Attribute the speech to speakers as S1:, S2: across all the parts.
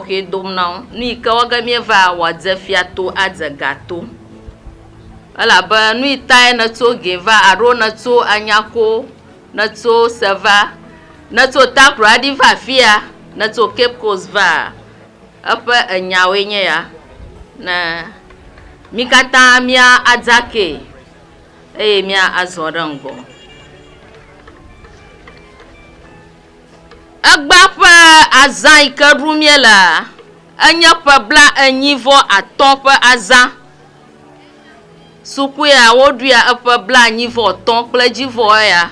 S1: Xɔxɔe dom na wo. Nu yi ke wɔ ge míeva wòadze fia to adze ga to. Elabe nui tae nètso gee va alo nètso anya ko nètso se va? Nètso Takoradi va afia? Nètso Cape Coast vaa? Eƒe enyawoe nye ya. Ne mí katã mía adzakee eye mía azɔ ɖe ŋgɔ. Egbea ƒe azã yi ke ɖum míelea, enye ƒe bla enyi vɔ atɔ̃ ƒe azã. Suku ya woɖuia eƒe bla enyi vɔ atɔ̃ kple edzi vɔ eya.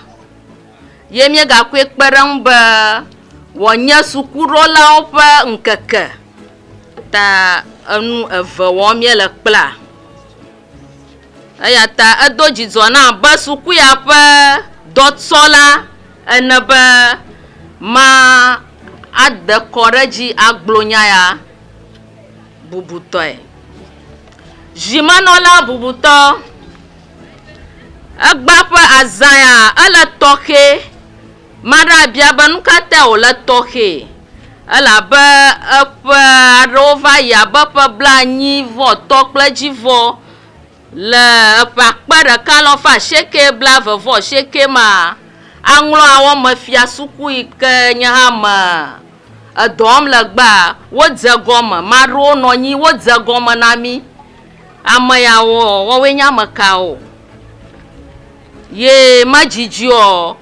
S1: Ye míega koe kpe ɖe eŋu be wòanye sukuɖɔlawo ƒe ŋkeke ta enu eve wɔm míele kplaa. Eya ta edo dzidzɔ na abe sukua ƒe dɔtsɔla ene be made kɔ ɖe edzi agblɔ nya ya bubutɔe. Zimenɔla bubutɔ, egbea ƒe azãa, ele tɔxɛ. Ame aɖe abia be, Nu ka tae wòle tɔxɛ elabe eƒe aɖewo va yi abe ƒe blaenyi vɔ etɔ̃ kple edzi vɔ le eƒe akpe ɖeka alɔ ƒe asieke blaeve vɔ asieke ma? Aŋlɔ awɔmefia suku yi ke nye hã me edɔ wɔm le gbea, wodze egɔme. Ame aɖewo nɔ anyi, wodze egɔme na mí. Ame yawo, woawoe nye ame kawo? Ye ma dzidziɔ,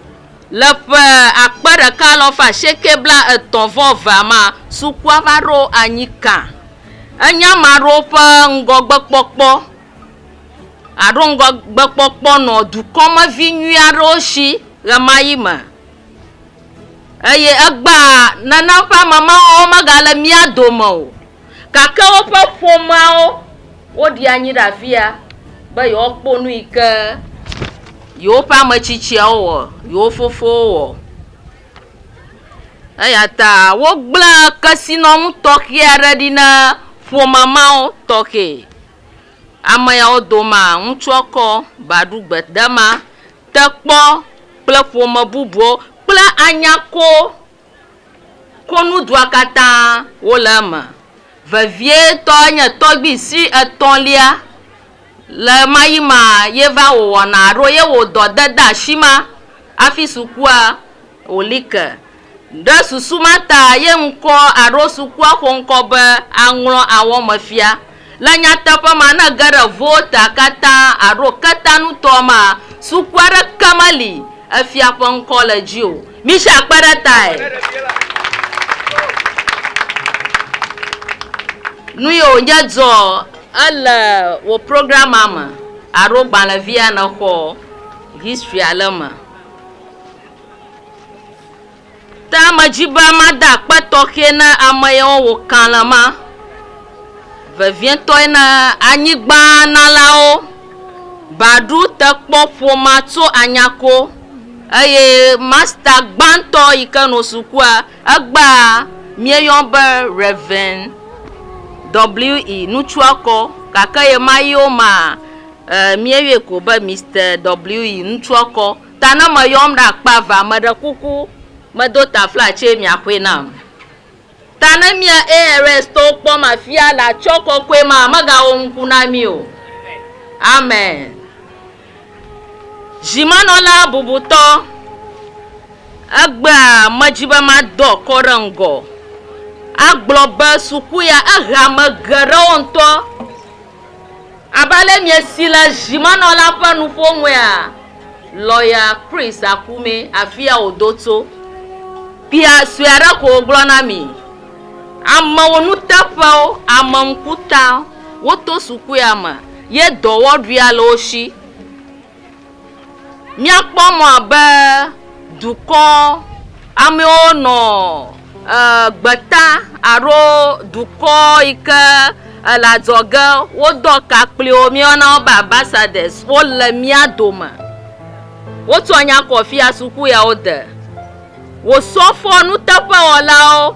S1: le ƒe akpe ɖeka alafa asieke bla etɔ̃ vɔ evea ma, sukua va ɖo anyi kã. Enye amaɖo ƒe ŋgɔgbe kpɔkpɔ aɖo ŋgɔgbe kpɔkpɔ nɔ dukɔ me vi nyui aɖewo si ɣe ma ɣi me. Eye egbea nane ƒe ame mawo me ga le mía dome o. Gake woƒe ƒomeawo, woɖi anyi ɖe afi ya be yewoakpɔ nu yi ke yewoƒe ame tsitsiawo wɔ, yewo fofowo wɔ. Eya ta wogblẽ kesinɔnu tɔxɛ aɖe ɖi na ƒome mawo tɔxɛ. Ame yawo domea, ŋutsua kɔ ba ɖu gbedama, tekpɔ kple ƒome bubuwo kple anyakowo. Konudua katã wole eme vevietɔ enye tɔgbui si etɔ̃lia le ɣemayima ye va wòwɔna alo ye wò dɔ de de asi ma hafi sukua wòli ke. Ɖe susu ma ta ye ŋkɔ alo sukua ƒe ŋkɔ be Aŋlɔ Awɔmefia. Le nyateƒe ma, ne ège ɖe Volta katã alo ketanutɔ ma, sukua aɖeke meli efia ƒe ŋkɔ le edzi o. Michel kpe ɖe tae. Nue wònye dzɔ ele wò programmea me alo gbalẽvia nèxɔ history ale me. Ta me dzi be mada akpe tɔxɛ na ame yawo wo kã le ma vevietɔe na anyigba nalawo, ba ɖu te kpɔ ƒoma tso anyako eye masta gbãtɔ yi ke no sukua egba mie yɔn be Reverend WE nutsua kɔ gake ye ma yio ma mie yɔe ko be Mister WE nutsua kɔ. ta ne meyɔm ɖe akpa evea, meɖe kuku medo taflatse miaxɔe nam. Ta ne mía ARStɔwo kpɔm afia le atsyɔ̃ kɔkɔe ma, megawɔ nuku na mí o. Amen. Dzimenɔla bubutɔ, egbea medzi be madɔ akɔ ɖe ŋgɔ agblɔ be suku ya ehea ame geɖewo ŋutɔ. Abe ale miesi le zimenɔla ƒe nuƒonuia, Lɔya Chris Akume, afia wòdo tso, kpea sue aɖe ko wògblɔ na mi, Amewo nuteƒewo, ame ŋkutawo, woto sukuea me ye dɔwɔɖuia le wo shi. Míakpɔ mɔ abe dukɔ amewo nɔ gbeta alo dukɔ yi ke le adzɔge wodɔ ka kpli wo, míeyɔna wo be ambassadors, wole mía dome. Wotsɔ nya kɔ fia suku ya wode. Wò sɔfoɔ nuteƒewɔlawo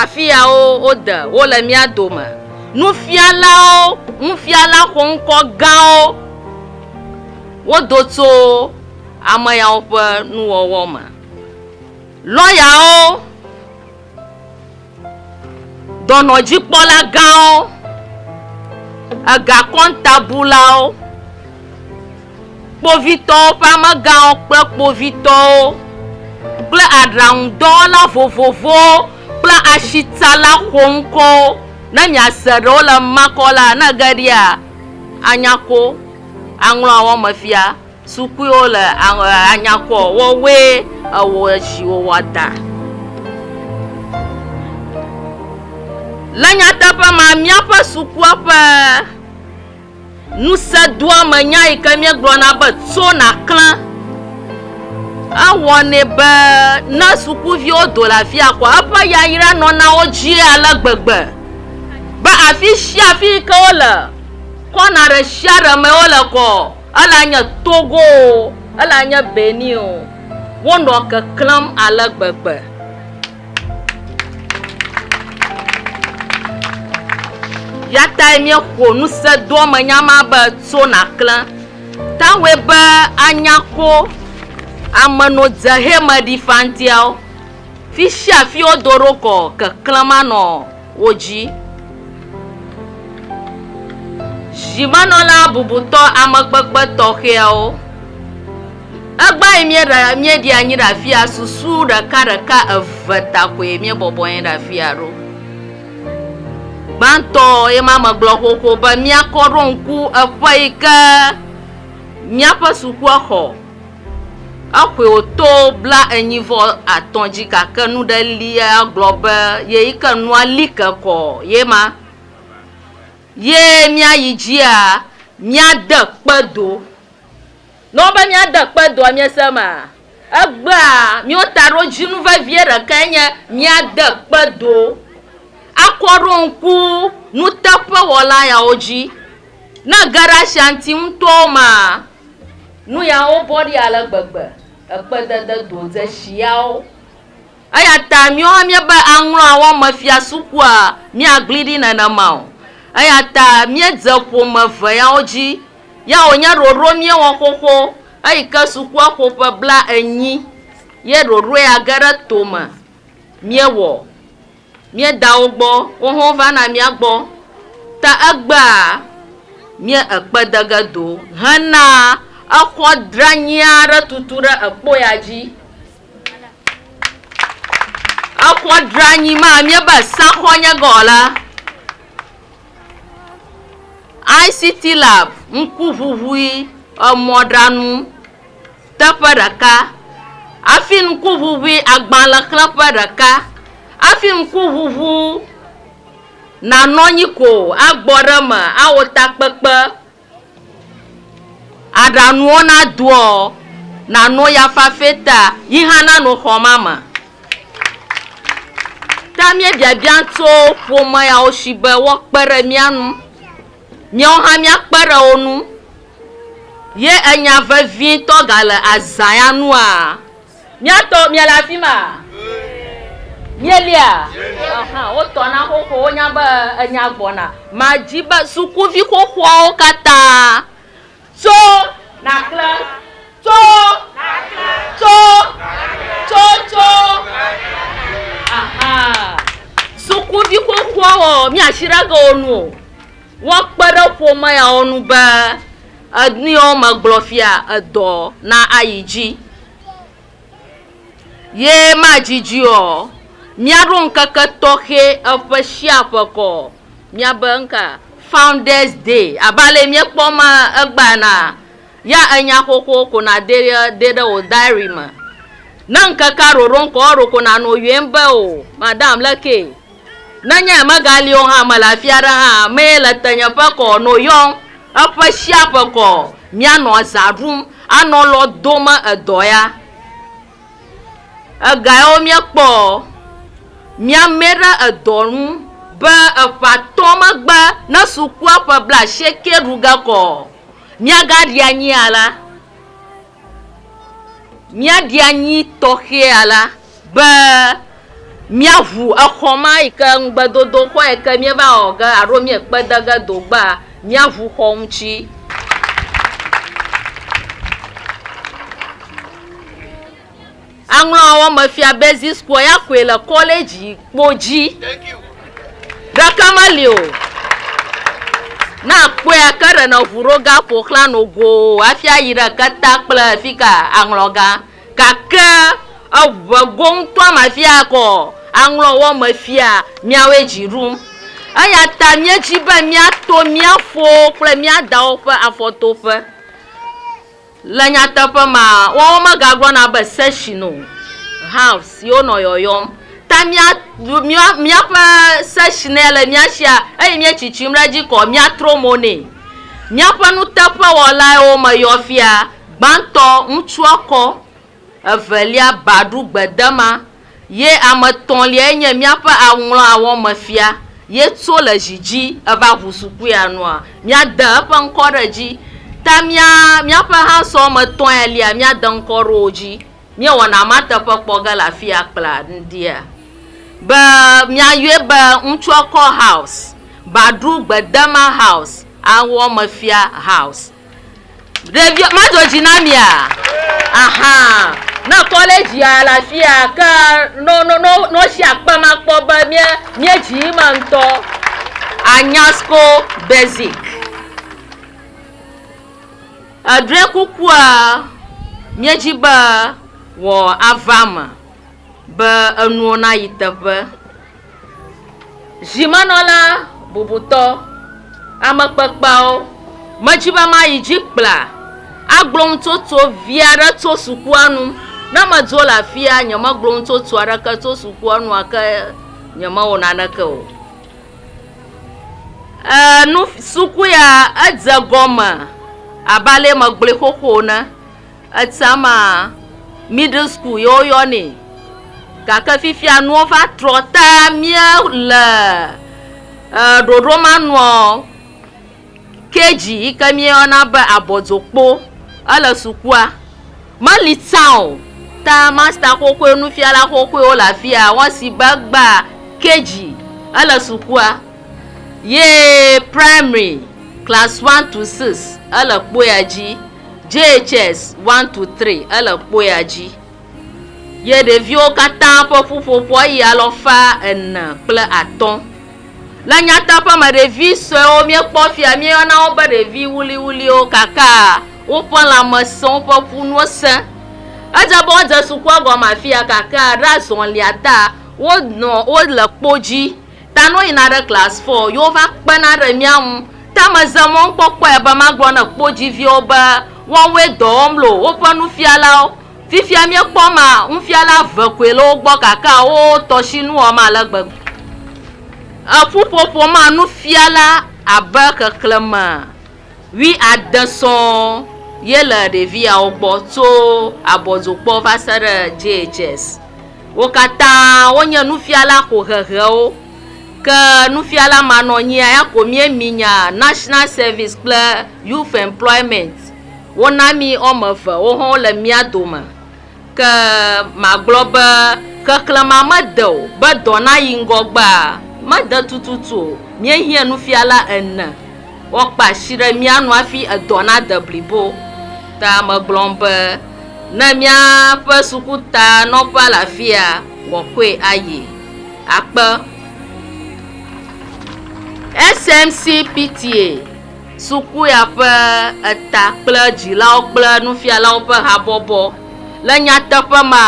S1: afiawo wode wo le mía dome, nufialawo, nufiala xoŋkɔ gãwo wodo tso ame yawo ƒe nuwɔwɔ me. Lɔyawo. Dɔnɔdzikpɔlagãwo, egakɔntabulawo, kpovitɔwo ƒe amegãwo kple kpovitɔwo kple aɖaŋudɔwɔla vovovowo kple asitsala xoŋkɔwo. Ne miase ɖewo le ema kɔ la, ne ege ɖia, anya ko, aŋlɔ awɔmefia. Sukuiwo le anyakɔ wɔwɔe ewɔ zi wòwɔ da. Le nyateƒe ma, míaƒe sukua ƒe ŋusẽdoamenya yi ke míegblɔna be tso nàklẽ, ewɔnɛ be ne sukuviwo do le afi ya kɔa, eƒe yayra nɔna wo dzi ale gbegbe be afi sia afi yi ke wole, kɔna ɖe sia ɖe me wole kɔɔ, Ele anye Togo o, ele anye Benin o, wonɔ keklẽm ale gbegbe. Ya tae míexo nusedoamenya ma be Tso Nàklẽ. Taŋue be anya ko amenodzehemeɖifantiawo, fi sia fi wodo ɖo kɔ keklẽm anɔ. wo dzi. Dzimenɔla bubutɔ amekpekpe tɔxɛawo. Egbea yi míeɖe míeɖi anyi ɖe afia susu ɖeka ɖeka eve ta koe míebɔbɔ anyi ɖe afia ɖo. Gbãtɔ ye ma megblɔ xoxo be míakɔ ɖo ŋku eƒe yi ke míaƒe sukuexɔ Eƒoe wòto bla enyi vɔ atɔ̃ dzi gake nu ɖe li ya gblɔ be ye yi ke nua li ke kɔ ye ma. Ye mía yi dzia mía de kpe do. Ne wo be mía de kpe doa mía se ema? Egbea míwo taɖodzinu vevie ɖekae nye mía de kpe do akɔ ɖo ŋku nuteƒewɔla yawo dzi. Ne ge ɖe ashanti ŋutɔwo mea, Nu yawo bɔ ɖi ale gbegbe ekpedede dodzesi yawo. Eya ta míwo hã míebe aŋlɔa wɔ me fia sukua míagli ɖi nenema o. Eya ta míedze ƒome eve yawo dzi. Ya wònye ɖoɖo míewɔ xoxo eyi ke sukua ƒo ƒe bla enyi ye ɖoɖoe age ɖe to me míewɔ. Mía dawo gbɔ, wohã wovana mía gbɔ, ta egbea mía ekpe de ge do hena exɔ dranyi aɖe tutu ɖe ekpo ya dzi. Exɔ dranyi ma, míebe saxɔ nye ge ɔ la, ICT lab, ŋkuʋuʋui emɔɖaŋu. Teƒe ɖeka. Hafi ŋkuʋuʋui agbalẽ xlẽƒe ɖeka. Hafi ŋkuʋuʋu nanɔ anyi ko agbɔ ɖe eme awɔ takpekpe, aɖanuwo nadoɔ, nàno ya fafɛ ta yi hã nanɔ xɔ ma me. Ta míebiabiã tso ƒome yawo si be woakpe ɖe mía ŋu. Míawo hã míakpe ɖe wo ŋu ye enya vevitɔ gale azã ya nua? Míatɔwo miele afi ma? Mielia? Aha, wotɔ na xoxo, wonya be enya gbɔna. Madi be sukuvi xoxoawo katã. Tso, nàklẽ. Tso, nàklẽ. Tso, nàklẽ. Tso, tso, nàklẽ. Aha. Sukuvi xoxoawoa, míasi ɖe eke wo nu o. Woakpe ɖe ƒome yawo nu be enu yiwo megblɔ fia, edɔ na ayi dzi. Ye madzidzi ɔ, míaɖo ŋkeke tɔxɛ eƒe shia ƒe kɔ ɔ, míabe ŋka? Founders Day. Abe ale yi míekpɔ ma egbea na, ya enya xoxowo ko nàde ɖe de ɖe wò diary me. Ne ŋkekea ɖoɖo ŋkɔ, eɖo ko nànɔ yɔɛm be o, madam, lekee. Ne nye megali o hã, mele afi aɖe hã, amee le tenye ƒe kɔ no yɔm, eƒe sia ƒe kɔ míanɔ zã ɖum, anɔ lɔ dom edɔ ya. Ega yawo míekpɔ míamɛ ɖe edɔ ŋu be eƒe atɔ̃ megbe ne sukua ƒe blaasieke ɖu ge kɔ míagaɖi anyi alea. Míaɖi anyi tɔxɛa la be míaʋu exɔ ma yi ke ŋugbedodo xɔ yi ke míeva wɔ ge alo míekpe de ge do gbea, míaʋu xɔ ŋuti. Aŋlɔawo me fia be Zisquo ya koe le kɔledzi kpo dzi. Ɖeka meli o. Ne àkpɔe ake ɖe nɔ ŋu ɖo gã ƒo xlã nɔ goo hafi ayi ɖe keta kple fika aŋlɔ gã. Gake eŋe go ŋutɔa ma fi akɔ aŋlɔwo me fia miawoe dzi ɖum. Eya ta míedzi be míato mía fowo kple mía dawo ƒe afɔtoƒe. Le nyateƒe me, woawo megagblɔna be section o, halves ye wonɔ yɔyɔm. Ta mía, mía, míaƒe section ye le mía sia eye míetsitsim ɖe edzi kɔ míatrɔ mo nɛ. Míaƒe nuteƒewɔlae wo me yɔ fia gbãtɔ ŋutsua kɔ. Evelia, Baɖu Gbedema, ye ame etɔ̃liae nye míaƒe aŋlɔ awɔmefia, ye tso le zi dzi eva ʋu sukuya nua, míade eƒe ŋkɔ ɖe edzi. Ta mía, míaƒe hã sɔ ame etɔ̃ ya lia, míade ŋkɔ ɖe wo dzi. Míewɔna ma teƒe kpɔ ge le afiya kpla ŋdia be míayɔe be Ŋutsuekɔ House, Baɖu Gbedema House, Awɔmefia House. Ɖevio, mado dzi na mia? Aha. Ne ekɔ ɖe dzia, le afia keŋ, ne wosi akpem akpɔ be mía, míedzi eme ŋutɔ. Anyasco Basic. Eɖɔe kukua míedzi be wòava eme. Be enuwo nayi teƒe. Zimenɔla bubutɔ, ame kpekpeawo medzi be mayi dzi kpla agblɔ nutsotso vi aɖe tso sukua nu. Ne medzo le afia, nyemegblɔ nutsotso aɖeke tso sukua nu gake nyemewɔ naneke o. E, nu, suku ya edze gɔme abe ale megblɔe xoxo ene. Etsã maa, middle school ye woyɔnɛ. Gake fifia nuwo va trɔ ta mía le ɖoɖo ma nua, KG yi ke mía yɔna be abɔdzokpo ele sukua meli tsã o. Ta master xoxoe, nufiala xoxoe wole afia. Wɔ si be egbea KG ele sukua ye primary class one to six ele kpoea dzi. JHS 1 to 3 ele kpoya dzi ye ɖeviwo katã ƒe ƒuƒoƒoa yi alɔfa ene kple atɔ̃. Le nyateƒe me, ɖevi sɔewo míekpɔ fia míeyɔna wo be ɖevi wuliwuliwo gake woƒe lãme sẽ, woƒe ƒunuwo sẽ. Edze be wodze sukua gɔme afia gake ɖe azɔlia ta wonɔ wole kpo dzi Ta ne woyina ɖe class four ye wova kpena ɖe mía ŋu. Ta meze mɔ ŋkpɔkpɔe be magblɔ na kpo dziviwo be woawoe dɔ wɔm lo woƒe nufialawo. Fifia míekpɔ ma, nufiala eve koe le wo gbɔ gake wo tɔshi nu wɔm ale gbegbe. Eƒuƒoƒo ma nufiala abe xexlẽme. Wuiade sɔŋ ye le ɖeviawo gbɔ tso abɔdzokpɔ va se ɖe JHS. Wo katã wonye nufiala xohehewo. Ke nufiala manɔnyia ya ko míe mi nya National Service kple Youth Employment. Wona mi woame eve wo hã wole mía dome. Ke magblɔ be xexlẽ ma mede o, be dɔ nayi ŋgɔgbea, mede tututu o. Míehiã nufiala ene woakpe asi ɖe mía nu hafi edɔ nade blibo. Ta megblɔm be, Ne míaƒe sukuta nɔƒea le afia, wɔkɔe ayi. Akpe. SMCPTA. Sukuya ƒe eta kple dzilawo kple nufialawo ƒe habɔbɔ. Le nyateƒe me,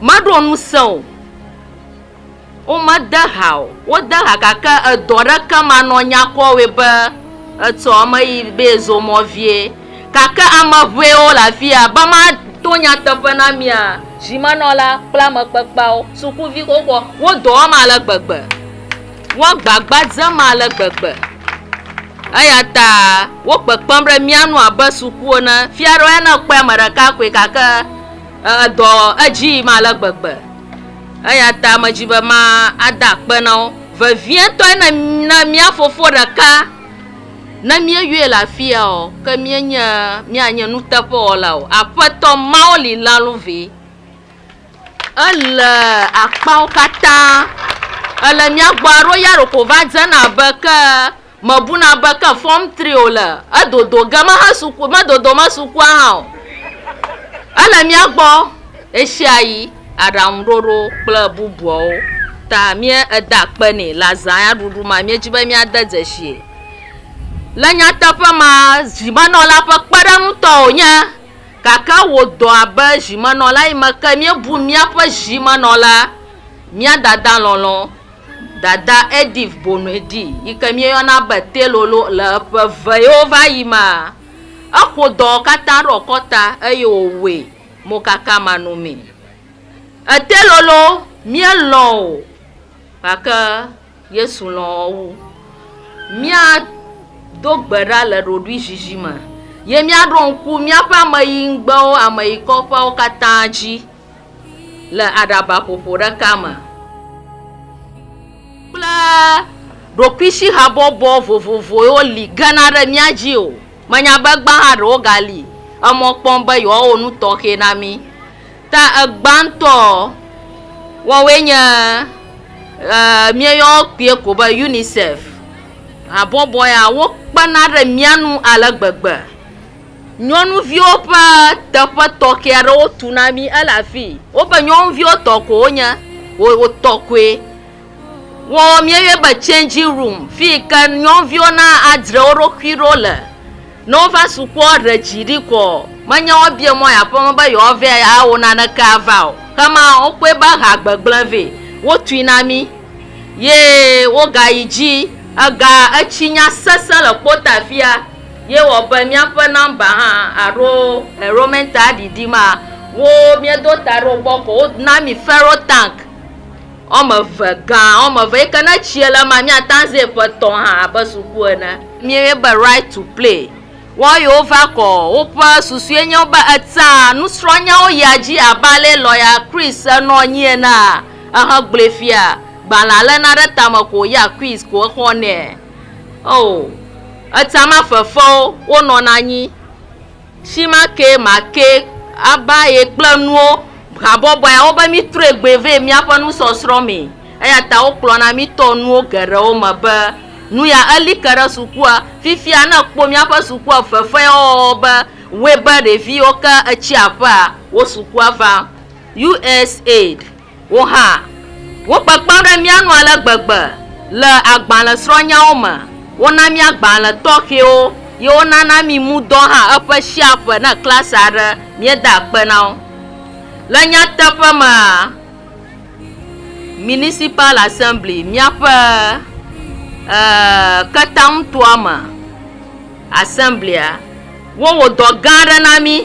S1: meɖo ŋusẽ o. Womede ha o. Wode ha gake edɔ ɖeke manɔ nyakɔ wɔe be etsɔ eme yi be yezo mɔ vie. Gake ame ŋɛwo le afi ya. Be mato nyateƒe na mia, dzimenɔla kple amekpekpeawo, sukuvi xoxoa, wo dɔ wɔm ale gbegbe. Woagbagba dzem ale gbegbe. Eya ta wo kpekpem ɖe mía nu abe suku ene. Fia ɖewo ya ne ekpɔe ame ɖeka koe gake edɔ edzi yim ale gbegbe. Eya ta medzi be ma ade akpe na wo. Vevietɔe ne ne mía fofo ɖeka ne míeyɔe le afia o ke míenye míanye nuteƒewɔla o. Aƒetɔ Mawu li lalu vɛ. Ele akpawo katã. Ele mía gbɔ aɖo ya ɖeko va dzena abe ke mebuna be ke fɔm tri wòle. Edodo ge mehe suku, medodo me sukua hã o. Ele mía gbɔ ɣeshiaɣi aɖaŋuɖoɖo kple bubuawo ta mía ede akpe nɛ le azãya ɖuɖu mea míedi be míade dzesi ye. Le nyateƒe mea zimenɔla ƒe kpeɖeŋutɔ wònye. gake wò dɔ abe zimenɔla yi me ke míebu míaƒe zimenɔla, mía dada lɔlɔ̃, Dada Edith Bonuedi, yi ke míeyɔna be Telolo le eƒe vewo va yi mea. Eƒo dɔ katã ɖe wòkɔ ta eye wòwɔe mokakamanɔmee. E Telolo, míelɔ̃ wò gake. Yesu lɔ̃ wu. Míado gbe ɖa le ɖoɖuizizi me, ye míaɖo ŋku míaƒe ameyiŋgbewo ameyikɔƒeawo katã dzi le aɖabaƒoƒo ɖeka me kple ɖokuisihabɔbɔ vovovowo li gena ɖe mía dzi o. Menya be gbãha ɖewo gali emɔ kpɔm be yewoawɔ nu tɔxɛ na mí. Ta egbãtɔ woawoe nye, e, míeyɔ kpuie ko be UNICEF. Habɔbɔ ya, wokpena ɖe mía ŋu ale gbegbe. Nyɔnuviwo ƒe teƒe tɔxɛ aɖe wotu na mí, ele afii. Woƒe nyɔnuviwo tɔ ko wonye, wotɔ koe. wɔwɔ míeyɔe be changing room fi yi ke nyɔnuviwo na adzre wo ɖokui ɖo le. Ne wova sukua ɖe dzi ɖi kɔ menye woabia mɔ yi aƒeme be yewoava awɔ naneke ava o. Kema wokpɔe be ha gbegblẽ vɛ. Wotui na mí ye wogayi dzi. Ega etsi nya sesẽ le kpota afia ye wɔ be míaƒe nɔmba hã alo enrollment aɖiɖi ma wo míedo ta ɖe wo gbɔ kɔ wona mí ferro tank. Wɔme eve, gã wɔme eve yi ke ne etsie le ema mía tanzɛ ƒe tɔ hã abe suku ene. Míeyɔe be Right to Play. Woawo yiwo va kɔ o, woƒe susue nye wo be etea nusrɔ̃nyawo yia dzi abe alee lɔya Chris nɔ anyi enea, ehegblɔe fia, gbalẽ alena ɖe tame ko wòyia quiz ko exɔnɛ. Oo, etea mafefewo, wonɔna anyi. Shima ke ma ke aba ye kple nuwo habɔbɔea wo be mi trɔe gbe vɛ miaƒe nusɔsrɔ̃ me. Eya ta wo kplɔna mi tɔ nuwo geɖewo me be nu ya eli ke ɖe sukua. Fifia ne kpɔ miaƒe sukua fefe wɔwɔ be wɔe be ɖeviwo ke etsi aƒea wo sukua va. USAID. Wò hã, wokpekpem ɖe mía ŋu ale gbegbe le agbalẽsrɔ̃nyawo me. Wona mí agbalẽ tɔxɛwo ye wonana mí mudɔ hã eƒe sia ƒe ne klasi aɖe míeda akpe na wo. Le nyateƒe mea, Municipal Assembly, míaƒe e ketaŋutoame Assembly-a, wowɔ dɔ gã aɖe na mí.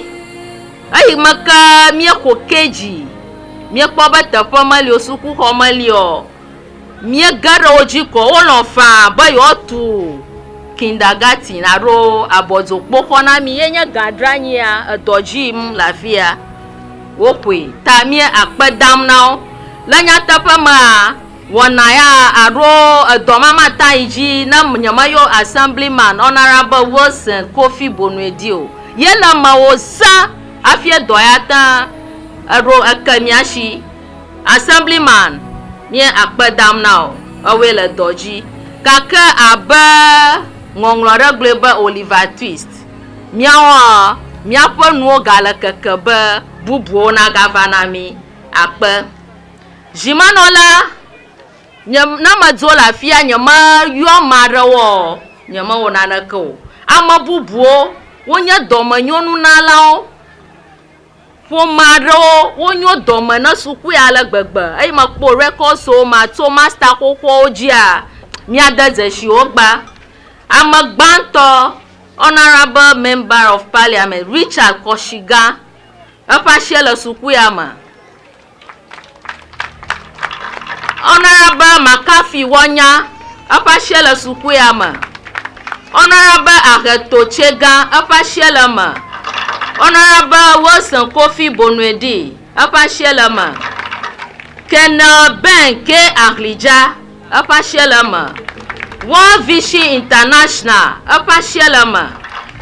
S1: Eyi me ke míexo ke dzi, míekpɔ be teƒe meli o, sukuxɔ meli o, míege ɖe wo dzi ko wolɔ̃ faa be yewoatu kindergarten alo abɔdzokpoxɔ na mí ye nye gã dranyi ya, edɔ dzi yim le afi ya. Woxoe ta míeakpe dam na wo. Le nyateƒe mea, Wɔna ya aɖo edɔmama ta yi dzi ne nyemeyɔ Assemblyman Honorable Wilson Kofi Bonue di o. Ye le emeo zã hafi edɔ ya te eɖo eke mía shi. Assemblyman, míe akpe dam na wò. Ewɔe le dɔ dzi. Gake abe ŋɔŋlɔ aɖe gblɔe be Oliver Twist, míawoa, míaƒe nuwo gale keke be bubuwo nagava na mí. Akpe. Zi ma nɔ la, nye, ne medzo le afia, nyemeyɔ ame aɖewo ɔ, nyemewɔ naneke o. Ame bubuwo wonye dɔmenyonunalawo. Ƒome aɖewo wonyo dɔme ne sukui ale gbegbe. Eyi mekpɔ rekɔswo ma tso masta xoxoawo dzia, míade dzesi wo gba. Ame gbãtɔ, Honourable Member of Parliament, Richard Kɔshiga, eƒe asie le sukuia me. Honorable McCarthy Wonya, eƒe asie le sukuya me. Honorable Aheto Tsega, eƒe asie le me. Honorable Wilson Kofi Bonuedi, eƒe asie le me. Colonel Ben K. Ahlidza, eƒe asie le me. World Vision International, eƒe asie le me.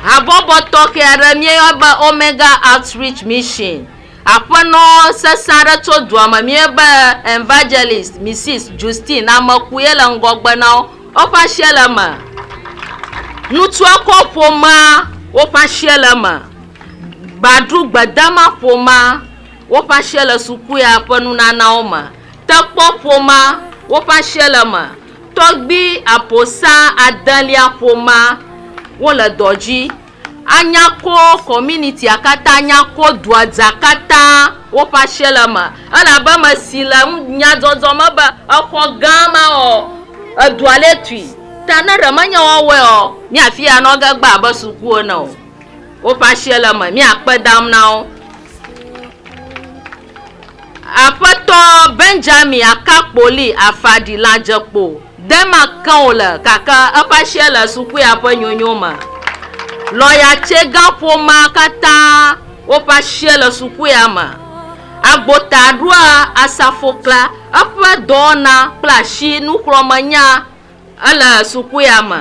S1: Habɔbɔ tɔxɛ aɖe míeyɔ be Omega Outreach Mission. Aƒenɔ sesẽ aɖe tso dua me míebe Evangelist Missis Justine Ameku ye le ŋgɔgbe na wo. Woƒe asie le eme. Ŋutsua kɔ ƒomea woƒe asie le eme. Gbadru gbedama ƒomea woƒe asie le suku ya ƒe nunanawo me. Tekpɔ ƒomea woƒe asie le eme. Tɔgbui aƒosa adelia ƒomea wole dɔ dzi. Anya ko kɔminitia katã, anya ko dua dza katã woƒe asie le eme. Elabe ame si le nu, nyadzɔdzɔ me be, exɔ gã ma ɔ, edua lé tui. Ta ne ɖe menye woawɔe ɔ, mía afi ya nɔ ge gbaa abe suku ene o. Woƒe asie le eme. Mía kpe dam na wo. Aƒetɔ Benjamin Akakpoli Afadi la dze kpo dema ke o le gake eƒe asia le sukuya ƒe nyonyo me. Lɔya Tsega ƒomea katã woƒe asia le sukuya me. Agbota ɖoa asafo klea eƒe dɔwɔna kple asi nuxlɔ̃menya Ele sukua me.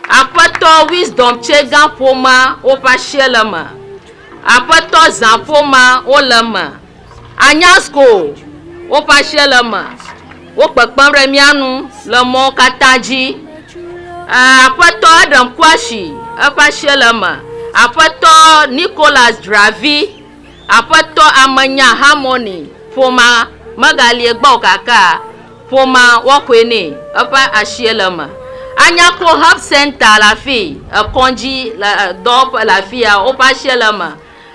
S1: Aƒetɔ Wisdom Tsega ƒomea woƒe asie le eme. Aƒetɔ Zã ƒomea wole eme. Anyasco woƒe asie le eme. Wo kpekpem ɖe mía nu le mɔwo katã dzi. E, aƒetɔ Adam Kwashi eƒe asie le eme. Aƒetɔ Nicholas Dravi Aƒetɔ ame nya Harmony ƒomea megalie gbɔ o gake ƒomea woaxɔe nɛ. Eƒe asie le eme. Anyako Health Centre le afii, ekɔdzi le dɔwɔƒe le afia woƒe asie le eme.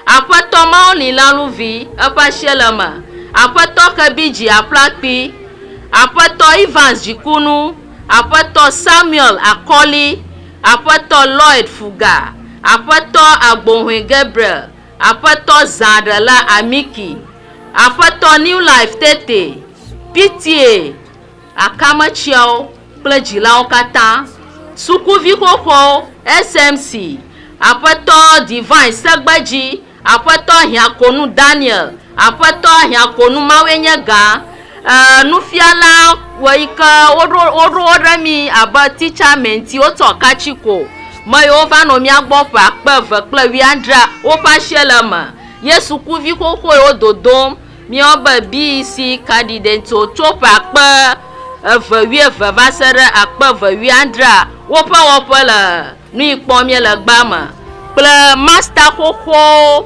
S1: Aƒetɔ Maureen Laluvi eƒe asie le eme. Aƒetɔ Kebiji Aƒlakpi, Aƒetɔ Evans Dzikunu, Aƒetɔ Samuel Akɔli, Aƒetɔ Lloyd Fuga, Aƒetɔ Agbohoe Gabriel, Aƒetɔ Zãɖela Amiki, Aƒetɔ New Life Tete, Pitie, Akametsiawo kple Dzilawo Katã, Sukuvi Xoxoawo, SMC, Aƒetɔ Divine Segbedzi, Aƒetɔ Hiãkonu Daniel, Aƒetɔ Ahiãkonu Mawue nye ga, e, Nufiala wɔ yi ke woɖo woɖo wo ɖe mí abe teacher mentee wotsɔ ka tsi ko. Me yiwo va nɔ mía gbɔ ƒe akpe eve kple wuiadrea, woƒe asie le eme. Ye sukuvi xoxo yiwo dodom míeyɔ be BEC candidates wo tso ƒe akpe eve wuieve va se ɖe akpe eve wuiadrea, woƒe wɔƒe le nu yi kpɔm míele gbea me kple master xoxowo.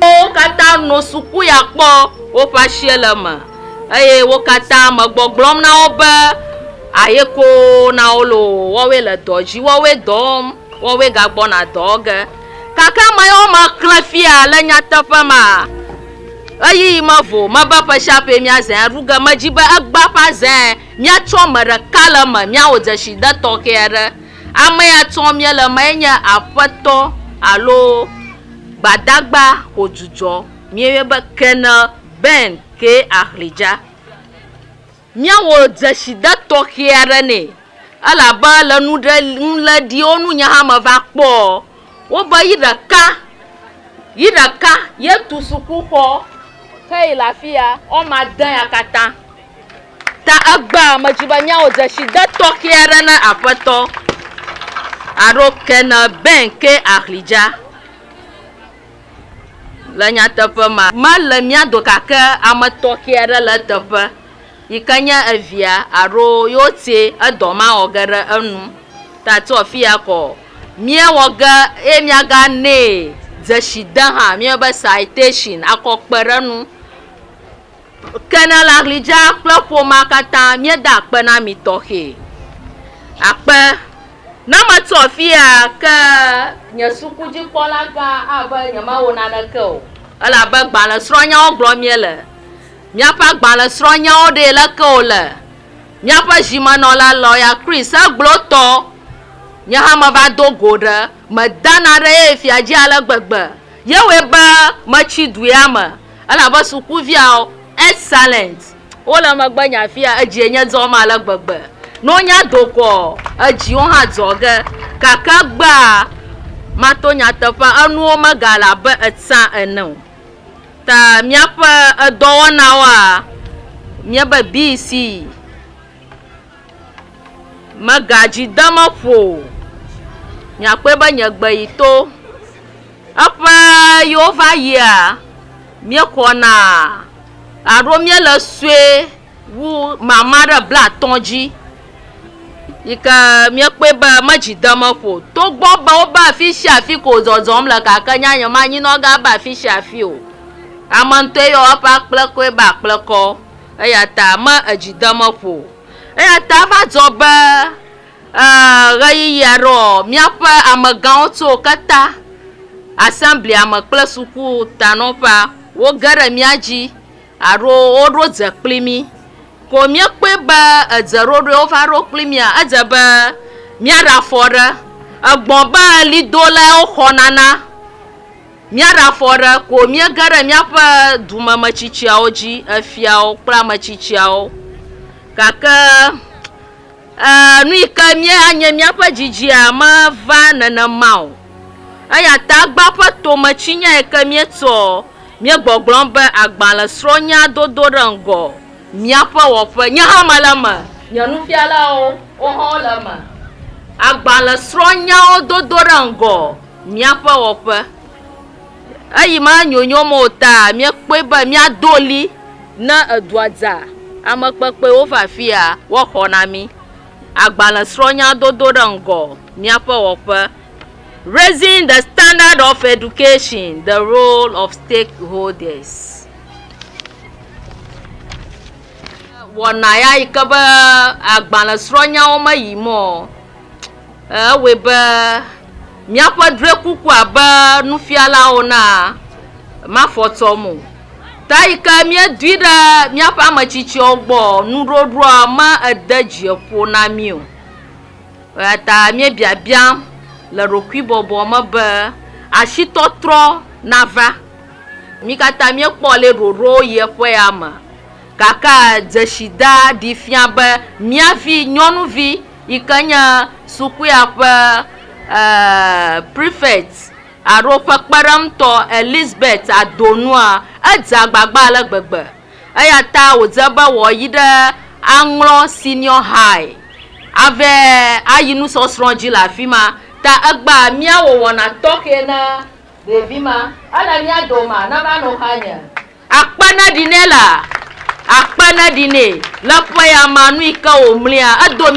S1: Wo katã no suku ya kpɔ woƒe asie le eme eye wo katã me gbɔgblɔm na wo be ayeko na wo loo, woawoe le dɔ dzi, woawoe dɔ wɔm, woawoe gagbɔna dɔ wɔ ge. Gake ame yawo me xlẽ fia le nyateƒe me a, ɣeyiɣi mevo o, mebe ƒe sia ƒee míazãe aɖu ge. Medi be egbea ƒe azãe míatsɔ ame ɖeka le eme míawɔ dzeside tɔxɛ aɖe. Ame ya tsɔm míele emae nye aƒetɔ alo gbadagba Odzudzɔ. Míeyɔe be Colonel Ben kee Ahligya. Míawɔ dzeside tɔxɛ aɖe nɛ elabe le nuɖe nuleɖiwo nu nye hã meva kpɔɔ, wobe yi ɖeka yi ɖeka yetu sukuxɔ heyi le afi ya woame ade ya katã. Ta egbea ame dzi be nyawo dzesi de tɔxɛ aɖe na Aƒetɔ alo kene bɛn ke ahli dza. Le nyateƒe ma, mele mía do gake ame tɔxɛ aɖe le eteƒe yi ke nye evia alo yewo ti edɔ ma wɔ ge ɖe enu. Ta tso afia kɔ mía wɔ ge eye mía ga nee dzesi de hã mía be citation akɔ kpe ɖe enu. Ke ne le aɣli dzaa kple ƒomea katã míeda akpe na mi tɔxɛ. Akpe. Ne metso afia ke nye sukudzikpɔlagã ave nyemawɔ naneke o elabe gbalẽ srɔ̃nyawo gblɔm míele. Míaƒe agbalẽ srɔ̃nyawo ɖee leke wòle. Míaƒe zimenɔla, lɔya Chris, egblɔ tɔ, Nye hã meva do go ɖe. Medana ɖe ye fiadzi ale gbegbe. Yewɔe be metsi duea me. Elabe sukuviawo, excellent, wole megbe nye afia, edzie nye dzɔm ale gbegbe. Nonya do kɔ, edziwo hã dzɔ ge. Gake egbea mato nyateƒea, enuwo megale abe etsã ene o. Ta míaƒe edɔwɔnawoa, míebe BCE. Megadzi dem eƒo o. Nye akpɔe be nye gbe yi to. Eƒe yiwo va yia, mía xɔ na. Alo mía le sue wu mama ɖe bla atɔ dzi yi ke mía kpɔe be me dzi dem eƒo o. Togbɔ be wo be afi sia afi ko zɔzɔm le gake nye nye ma nyi nɔ ga be afi sia afi o. Ame ŋutɔe yɔ eƒe akplekɔe be akplekɔ. eya ta me edzi dem eƒo o. Eya ta eva dzɔ be e ɣeyiɣi aɖeɔ, míaƒe amegãwo tso keta asɛmblia me kple suku tanɔƒea woge ɖe mía dzi alo woɖo dze kpli mí. Ko míekpɔe be edze ɖoɖoe wova ɖo kpli mía, edze be míaɖe afɔ ɖe egbɔ be ɣlidolae woxɔna na. Míaɖe afɔ ɖe ko míege ɖe míaƒe dumemetsitsiawo dzi, efiawo kple ametsitsiawo, gake e, nu yi ke míanye míaƒe dzidzia meva nenema o. Eya ta egbea ƒe tome tsinya yi ke míetsɔ míegbɔgblɔ be agbalẽsrɔ̃nya dodo ɖe ŋgɔ míaƒe wɔƒe. Nye hã mele eme, nye nufialawo, wohã wole eme. Agbalẽsrɔ̃nyawo dodo ɖe ŋgɔ. míaƒe wɔƒe. Eyime anyonyo me o taa, míekpɔe be míado ɣli ne edua dza, ame kpekpewo va afia woaxɔ na mí agbalẽsrɔ̃nya dodo ɖe ŋgɔ míaƒe wɔƒe Raising the Standard of Education, The Role of Stakeholders. Wɔna ya yi ke be agbalẽsrɔ̃nyawo meyim o. Ewɔe be míaƒe drɔ̃ekukua be nufialawo na mafɔ tsɔm o. Ta yi ke míedui ɖe míaƒe ame tsitsiwo gbɔ nuɖoɖoa me ede dzi ƒo na mí o. Eya ta míebiabiam le ɖokuibɔbɔ me be asitɔtrɔ nava. Mí katã míekpɔ ale ɖoɖo yi eƒe ya me gake dzesida ɖee fia be mía vi nyɔnuvi. yi ke nye sukua ƒe e prefect alo ƒe kpeɖeŋutɔ Elizabeth Adonua, edze agbagba ale gbegbe eya ta wòdze be wòayi ɖe Aŋlɔ Senior High ave ayi nusɔsrɔ̃ dzi le afi ma. Ta egba mía wɔwɔna tɔxɛ na ɖevi ma. Ele mía domea? Na manɔ xa nye. Akpe neɖi nɛ la! Akpe neɖi nɛ le ƒe ya ma nu yi ke wòmlia. Edo mía.